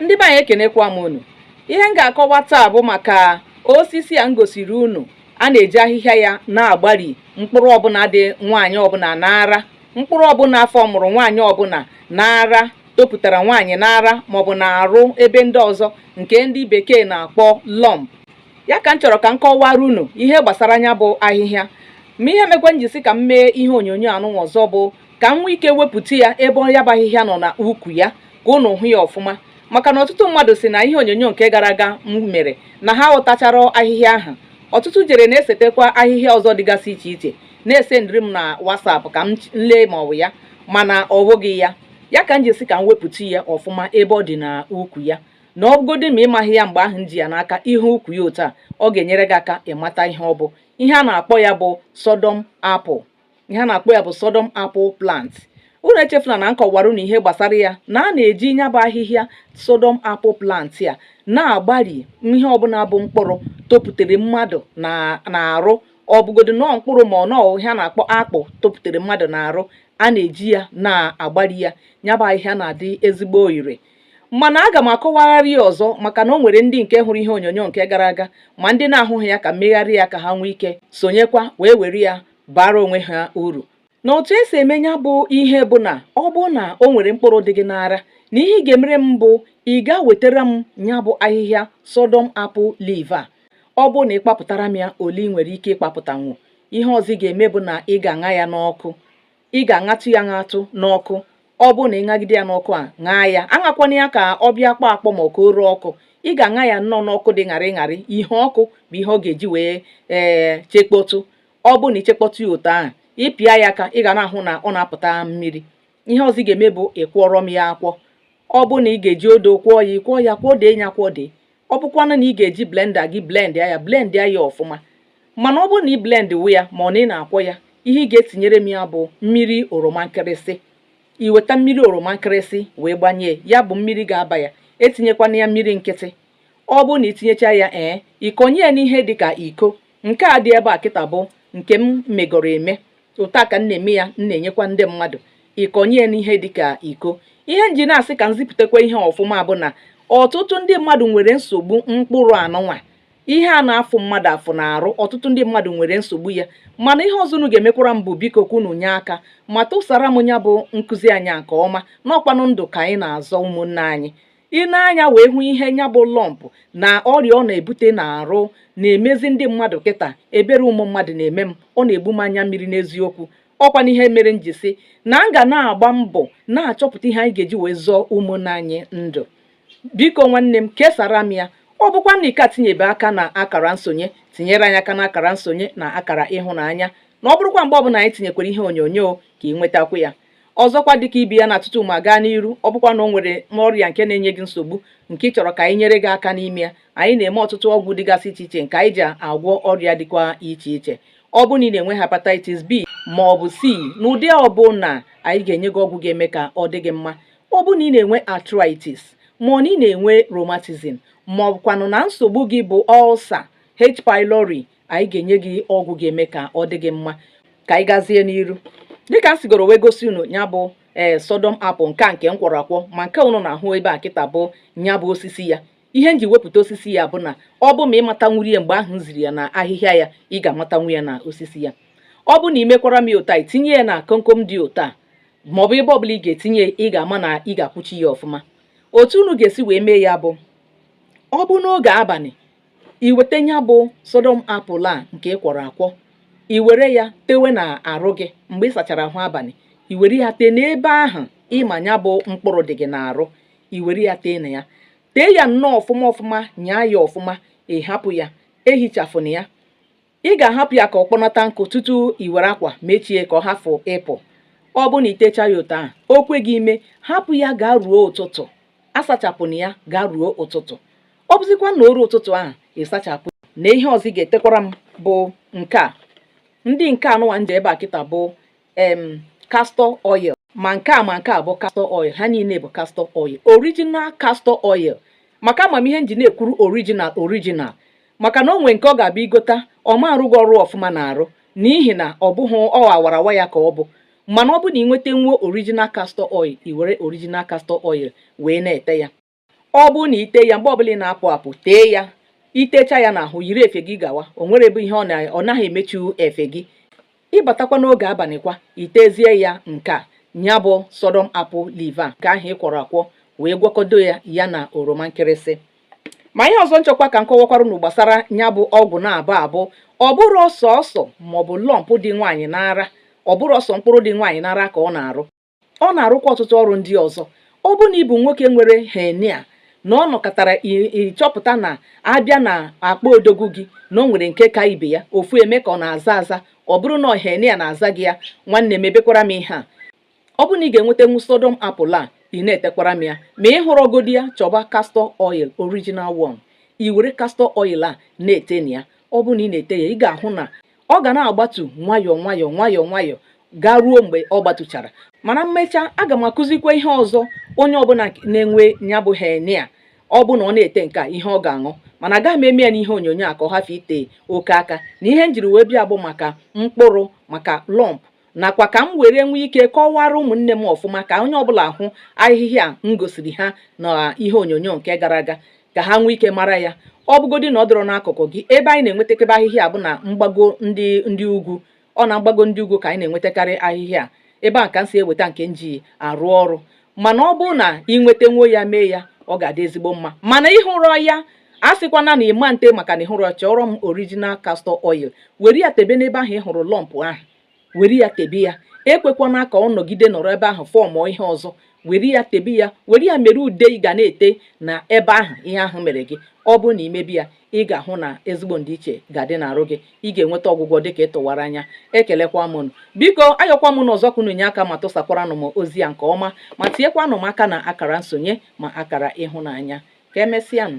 ndị be anyị ekenekwa m unu ihe m ga-akọwa taa bụ maka osisi a m gosiri unu a na-eji ahịhịa ya na-agbari mkpụrụ ọbụla dị nwaanyị ọbụla n'ara mkpụrụ ọbụla formụrụ nwaanyị ọbụla n'ara topụtara nwaanyị n'ara maọbụ n'arụ ebe ndị ọzọ nke ndị bekee na-akpọ lump ya ka m chọrọ ka m kọwara unu ihe gbasara nya bụ ahịhịa ma ihe mekwa m ji sị ka m mee ihe onyonyo anụnwa ọzọ bụ ka m nwee ike wepụta ya ebe ọ ya bụ ahịhịa nọ na ukwu ya ka unu hụ ya ọfụma maka na ọtụtụ mmadụ sị na ihe onyonyo nke gara aga m mere na ha aghọtacharọ ahịhịa ahụ ọtụtụ jere na-esetekwa ahịhịa ọzọ dịgasị iche iche na-esendịrị m na whatsapp ka m lee ma ọ bụ ya mana ọ bụghị ya ya ka m ji sị ka m wepụta ya ọfụma ebe ọ dị na ukwu ya na ọgodi ma ịmaghị ya mgbe ahụ m ji ya n'aka ị hụ ukwu ya otu a ọ ga-enyere gị aka ịmata ihe ọ bụ ihe a na-akpọ ya bụ sodom apple ihe a na-akpọ ya bụ sodom apple plant unu echefula na m kọwara unu ihe gbasara ya na a na-eji ya bụ ahịhịa sodom apple plant ya na-agbari ihe ọbụla bụ mkpụrụ topụtara mmadụ n'arụ ọ bụgodo na ọ mkpụrụ ma ọ na ọ ihe a na-akpọ akpụ topụtara mmadụ n'arụ a na-eji ya na-agbari ya ya bụ ahịhịa na-adị ezigbo ire mana aga m akọwagharị ya ọzọ maka na o nwere ndị nke hụrụ ihe onyonyo nke gara aga ma ndị na-ahụghị ya ka m megharị ya ka ha nwee ike sonyekwa wee were ya baara onwe ha uru na otu e si eme ya bụ ihe bụ na ọ bụrụ na o nwere mkpụrụ dị gị n'ara na ihe ị ga-emere m bụ ị ga wetara m ya bụ ahịhịa sodom apple leaf a ọ bụrụ na ịkpapụtara m ya ole ị nwere ike ịkpapụtanwu ihe ọzọ ị ga-eme bụ na ị ga-aṅa ya n'ọkụ ị ga-aṅatụ ya aṅatụ n'ọkụ ọ bụrụ na ị ṅagide ya n'ọkụ a ṅaa ya aṅakwana ya ka ọ bịa kpọọ akpọ ma ọ ka o ree ọkụ ị ga-aṅa ya nnọọ n'ọkụ dị ṅarị ṅarị ihe ọkụ bụ ihe ọ ga-eji wee ee chekpọtụ ọ bụrụ na ichekpọtụ ya otu ahụ ịpịa ya aka ị ga na-ahụ na ọ na-apụta mmiri ihe ọzọ ị ga-eme bụ ịkwọrọ m ya akwọ ọ bụrụ na ị ga-eji odo kwọọ ya ịkwọọ ya kwọdee ya kwọdee ọ bụkwanụ na ị ga-eji blender gị blend ya blend ya ọfụma mana ọ bụrụ na ị blendwe ya ma ọ na ị na-akwọ ya ihe ị ga-etinyere m ya bụ mmiri oroma nkịrịsị iweta mmiri oroma nkịrịsị wee gbanye ya bụ mmiri ga-aba ya etinyekwana ya mmiri nkịtị ọ bụrụ na itinyecha ya ee ịkọnye ya n'ihe dị ka iko nke a dị ebe a kịta bụ nke m megoro eme otu a ka m na-eme ya m na-enyekwa ndị mmadụ ịkọnye n'ihe dịka iko ihe m ji na-asị ka m zipụtakwa ihe ọfụma bụ na ọtụtụ ndị mmadụ nwere nsogbu mkpụrụ anụnwa ihe a na-afụ mmadụ afụ n'arụ ọtụtụ ndị mmadụ nwere nsogbu ya mana ihe ọzọ unu ga-emekwara m bụ biko ka unu nye aka ma tụsara m ya bụ nkụzi anyị nke ọma na ọ kwanụ ndụ ka anyị na-azọ ụmụnne anyị i nee anya wee hụ ihe nya bụ lump na ọrịa ọ na-ebute n'arụ na-emezi ndị mmadụ kịta ebere ụmụ mmadụ na-eme m ọ na-egbu m anya mmiri n'eziokwu ọ kwanụ ihe mere m ji sị na m ga na-agba mbọ na-achọpụta ihe anyị ga-eji wee zọọ ụmụnne anyị ndụ biko nwanne m kesara m ya ọ bụkwa na ị ka etinyebe aka na akara nsonye tinyere anyị aka na akara nsonye na akara ịhụnanya na ọ bụrụkwa mgbe ọbụla anyị tinyekwara ihe onyonyo ka ị nwetakwu ya ọzọkwa dịka ibe ya na tutu m agaa n'iru ọ bụkwa na o nwere ọrịa nke na-enye gị nsogbu nke ị chọrọ ka anyị nyere gị aka n'ime ya anyị na-eme ọtụtụ ọgwụ dịgasị iche iche nke anyị ji agwọ ọrịa dịkwa iche iche ọ bụ na ị na-enwe hepatitis B ma ọ bụ C n'ụdị ọbụna anyị ga-enye gị ọgwụ ga-eme ka ọ dị gị mma ọ bụ na ị na-enwe arthritis ma ọ na ị na-enwe rheumatism ma ọ bụkwanụ na nsogbu gị bụ ulcer H pylori anyị ga-enye gị ọgwụ ga-eme ka ọ dị gị mma ka anyị gazie n'iru dịka m sigoro wee gosi unu ya bụ ee eh, Sodom apple nke a nke m kwọrọ akwọ ma nke unu na-ahụ ebe a kịta bụ ya bụ osisi ya ihe m ji wepụta osisi ya bụ na ọ bụ ma ị matanwurọ ya mgbe ahụ m ziri ya na ahịhịa ya ị ga-amatanwu ya na osisi ya ọ bụ na ị mekwara m ya otu a i tinye ya na komkom dị otu a ma ọ bụ ebe ọbụla ị ga-etinye ị ga-ama na ị ga-akwụchi ya ọfụma otu unu ga-esi wee mee ya bụ ọ bụ n'oge abalị i weta ya bụ Sodom apple a nke ị kwọrọ akwọ i were ya tewe na arụ gị mgbe ị sachara ahụ abalị i were ya tee n'ebe ahụ ị ma ya bụ mkpụrụ dị gị n'arụ i were ya tee na ya tee ya nnọọ ọfụma ọfụma nyaa ya ọfụma ị hapụ ya ehichafụna ya ị ga-ahapụ ya ka ọ kpọnata nkụ tutu i were akwa mechie ka ọ hafụ ịpụ ọ bụ na i techa ya otu ahụ o kwe gị ime hapụ ya gaa ruo ụtụtụ asachapụna ya gaa ruo ụtụtụ ọ bụzikwa na o ruo ụtụtụ ahụ ị sachapụ na ihe ọzọ ị ga-etekwara m bụ nke a ndị nke anụwa m ji ebe a kịta bụ em castor oil ma nke a ma nke a bụ castor oil ha niile bụ castor oil original castor oil maka ama m ihe m ji na-ekwuru original original maka na o nwee nke ọ ga-abụ i gota ọ ma arụ gị ọrụ ọfụma na arụ n'ihi na ọ bụghị ọ awarawa ya ka ọ bụ mana ọ bụ na ị nwetanwuo original castor oil i were original castor oil wee na-ete ya ọ bụ na i te ya mgbe ọbụla ị na-apụ apụ tee ya i techa ya n'ahụ yiri efe gị gawa o nwere ebe ihe ọ naghị emechu efe gị ị batakwa n'oge abalịkwa i tezie ya nke a ya bụ Sodom apple leaf a nke ahụ ị kwọrọ akwọ wee gwakọdo ya ya na oroma nkịrịsị ma ihe ọzọ m chọkwa ka m kọwakwara unu gbasara ya bụ ọgwụ na-abụ abụ ọ bụrọ sọọsọ maọbụ lump dị nwaanyị n'ara ọ bụrọ sọ mkpụrụ dị nwaanyị n'ara ka ọ na-arụ ọ na-arụkwa ọtụtụ ọrụ ndị ọzọ ọ bụ na ị bụ nwoke nwere hernia na ọ nọkatara ị chọpụta na a bịa na akpa odogwu gị na ọ nwere nke ka ibe ya ofu eme ka ọ na-aza aza ọ bụrụ na hernia na-aza gị ya nwanne m mebekwara m ihe a ọ bụ na ị ga-enwetanwu sodom apple a ị na-etekwara m ya ma ị hụrọgodi ya chọba castor oil original one i were castor oil a na-ete na ya ọ bụ na ị na-ete ya ị ga-ahụ na ọ ga na-agbatu nwayọọ nwayọọ nwayọọ nwayọọ gaa ruo mgbe ọ gbatuchara mana m mechaa aga m akụzikwa ihe ọzọ onye ọbụla na-enwe ya bụ hernia ọ bụ na ọ na-ete nke a ihe ọ ga-aṅụ mana agaghị m eme ya n'ihe onyonyo a ka ọ hafụ ite oke aka na ihe m jiri wee bịa bụ maka mkpụrụ maka lump nakwa ka m were nwee ike kọwara ụmụnne m ọfụma ka onye ọbụla hụ ahịhịa m gosiri ha na ihe onyonyo nke gara aga ka ha nwee ike mara ya ọ bụgodị na ọ dọrọ n'akụkụ gị ebe anyị na-enwetakebe ahịhịa a bụ na mgbago ndị ndị ugwu ọ na mgbago ndị ugwu ka anyị na-enwetakarị ahịhịa ebe ahụ ka m si eweta nke m ji arụ ọrụ mana ọ bụrụ na ị nwetanwuo ya mee ya ọ ga-adị ezigbo mma mana ị hụrọ ya asịkwana na ị ma nte maka na ị hụrọ chọrọ m original castor oil were ya tebe n'ebe ahụ ị hụrụ lump ahụ were ya tebe ya ekwekwana ka ọ nọgide nọrọ ebe ahụ fọmụọ ihe ọzọ were ya tebe ya were ya mere ude ị ga na-ete na ebe ahụ ihe ahụ mere gị ọ bụrụ na i mebe ya ị ga-ahụ na ezigbo ndịiche ga-adị n'arụ gị ị ga-enweta ọgwụgwọ dị ka ị tụwara anya ekelekwa m unu biko ayọkwa m unu ọzọ ka unu nye aka ma tụsakwaranụ m ozi a nke ọma ma tinyekwanụ m aka na akara nsonye ma akara ịhụnanya ka emesịanụ